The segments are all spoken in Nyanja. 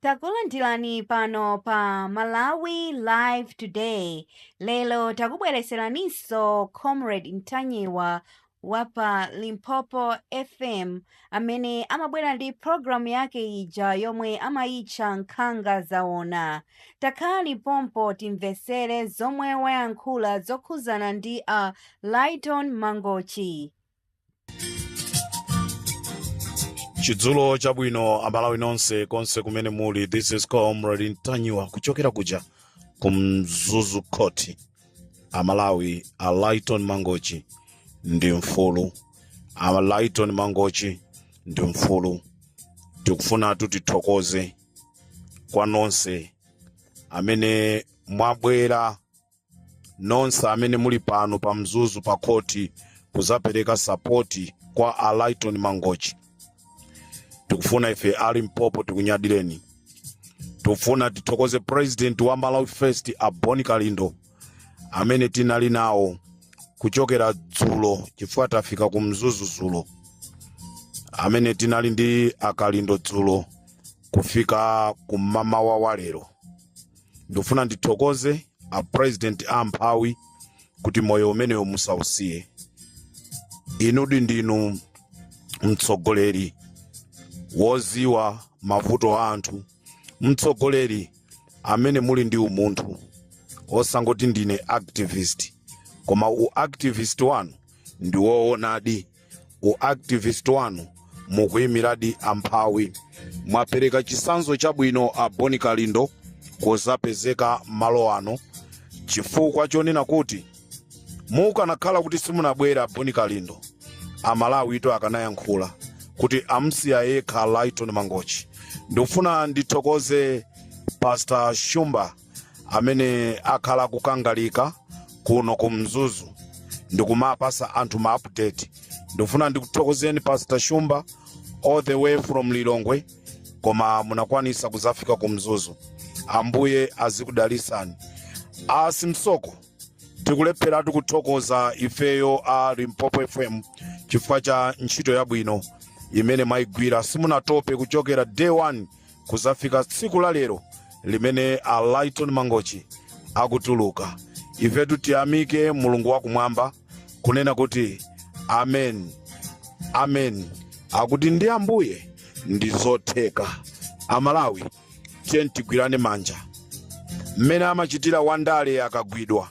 Takulandirani pano pa Malawi Live Today. Lero takubwereseraninso Comrade Ntanyiwa wa pa Limpopo FM amene amabwera ndi programu yake ija yomwe amayitcha Nkhanga Zawona. Takhalani pompo timvetsere zomwe wayankhula zokhuzana ndi a Lyton Mangochi. chidzulo chabwino amalawi nonse konse kumene muli this is comrade ntanyiwa kuchokera kuja ku mzuzu court amalawi a lyton mangochi ndi mfulu a lyton mangochi ndi mfulu tikufuna kuti tithokoze kwa nonse amene mwabwera nonse amene muli pano pa mzuzu pa khoti kuzapereka sapoti kwa a Lyton Mangochi tikufuna ife a Limpopo tikunyadireni tikufuna tithokoze president wa Malawi First a Bon Kalindo amene tinali nawo kuchokera dzulo chifukwa tafika ku mzuzu dzulo amene tinali ndi akalindo dzulo kufika kummamawa wa lero ndikufuna ndithokoze a president a amphawi kuti moyo umenewo musausiye inudi ndinu mtsogoleri woziwa mavuto a anthu mtsogoleri amene muli ndi umunthu osangoti ndine activist koma u activist wanu ndi woonadi u activist wanu mukuyimiradi amphawi mwapereka chisanzo chabwino a bon kalindo kuzapezeka malo ano chifukwa chonena kuti mukanakhala kuti simunabwere a bon kalindo amalawitu akanayankhula kuti amsiya yekha lyton mangochi ndikufuna ndithokoze pastor shumba amene akhala akukangalika kuno ku mzuzu ndikumapasa anthu ma update ndikufuna ndikuthokozeni pastor shumba all the way from lilongwe koma munakwanisa kuzafika ku mzuzu ambuye azikudalisani a simsoko tikulepheratu kuthokoza ifeyo a limpopo fm chifukwa cha ntchito yabwino imene mwayigwira simunatope kuchokera day one kuzafika tsiku la lero limene a Lyton Mangochi akutuluka ifetu tiyamike mulungu wakumwamba kunena kuti amen amen akuti ndi ambuye ndi zotheka amalawi tiyeni tigwirane manja mmene amachitira wandale akagwidwa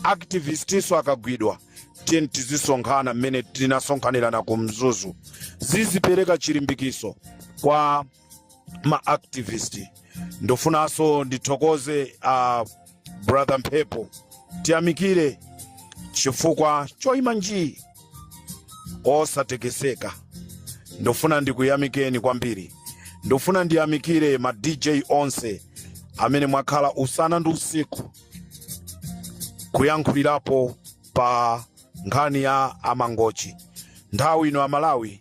activistiso akagwidwa tiyeni tizisonkhana mmene tinasonkhanirana ku mzuzu zizipereka chilimbikiso kwa ma activist ndofunanso ndithokoze a brother mphepo tiyamikire chifukwa choyima njii osatekeseka ndofuna ndikuyamikeni kwambiri ndofuna ndiyamikire ma dj onse amene mwakhala usana ndi usiku kuyankhulirapo pa nkhani ya a Mangochi nthawi ino amalawi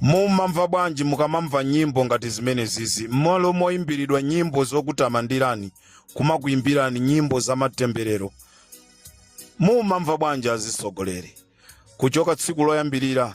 mumamva bwanji mukamamva nyimbo ngati zimenezizi mmalo moyimbiridwa nyimbo zokutamandirani kumakuyimbirani nyimbo zamatemberero mumamva bwanji azitsogoleri kuchoka tsiku loyambirira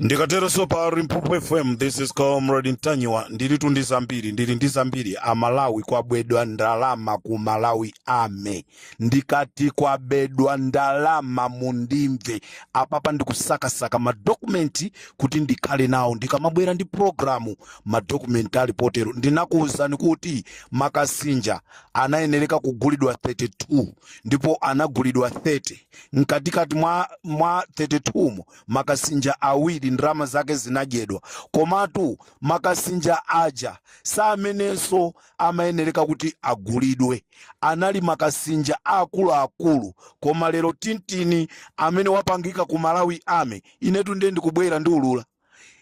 ndikatero so pa limpopo fm this is comrade ntanyiwa ndilitu ndi zambiri ndili ndi zambiri amalawi kwabedwa ndalama ku malawi ame ndikati kwabedwa ndalama mundimve apapa ndikusakasaka madokumenti kuti ndikhale nawo ndikamabwera ndi programu madokumenti ali potero ndinakuwuzani kuti makasinja anayenereka kugulidwa 32 ndipo anagulidwa 30 mkatikati mwa, mwa 32 mo makasinja awiri ndalama zake zinadyedwa komatu makasinja aja amenenso amayenereka kuti agulidwe anali makasinja aakuluakulu koma lero tintini amene wapangika ku malawi ame inetu ndiye ndikubwera ndi ulula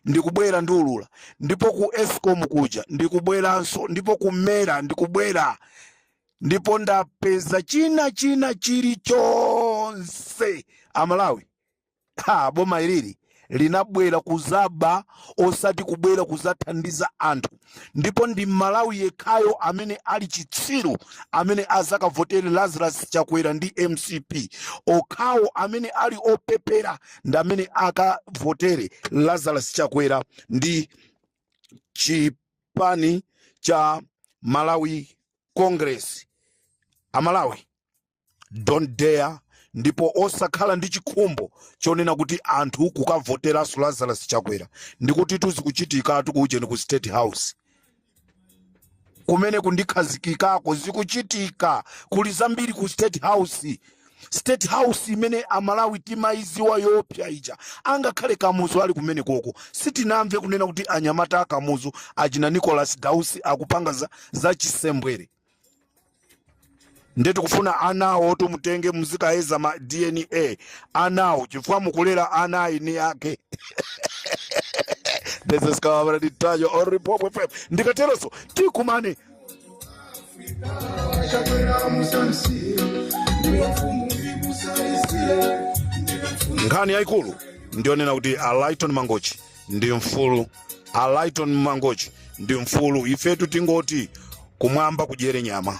ndikubwera ndi ulula ndipo ku escom kuja ndikubweranso ndipo ku mera ndikubwera ndipo ndapeza china china chilichonse amalawi ha boma ilili linabwera kuzaba osati kubwera kuzathandiza anthu ndipo ndi mmalawi yekhayo amene ali chitsiru amene azakavotere lazarus chakwera ndi mcp okhawo amene ali opepera ndi amene akavotere lazarus chakwera ndi chipani cha malawi congress amalawi don't dare ndipo osakhala ndi chikhumbo chonena kuti anthu kukavoteranso lazarus chakwera ndikuti zikuchitikatu ku ujeni ku state house kumene ndikukhazikikako zikuchitika kuli zambiri ku state house state house imene amalawi timayiziwa yoopsa ija angakhale kamuzu ali kumene koko sitinamve kunena kuti anyamata a kamuzu achina nicholas dausi akupanga za, za chisembwere nde tikufuna anawo oti muwatenge muzikayeza ma dna anawo chifukwa mukulera ana a eni ake this is covered in touch or report with faith. ndikateronso tikumane chakwera musansi ndiwo mfumu ibusaisire ndiwe mfumu nkhani yayikulu ndiyonena kuti a lighton mangochi ndi mfulu a lighton mangochi ndi mfulu ifetu tingoti kumwamba kugwere nyama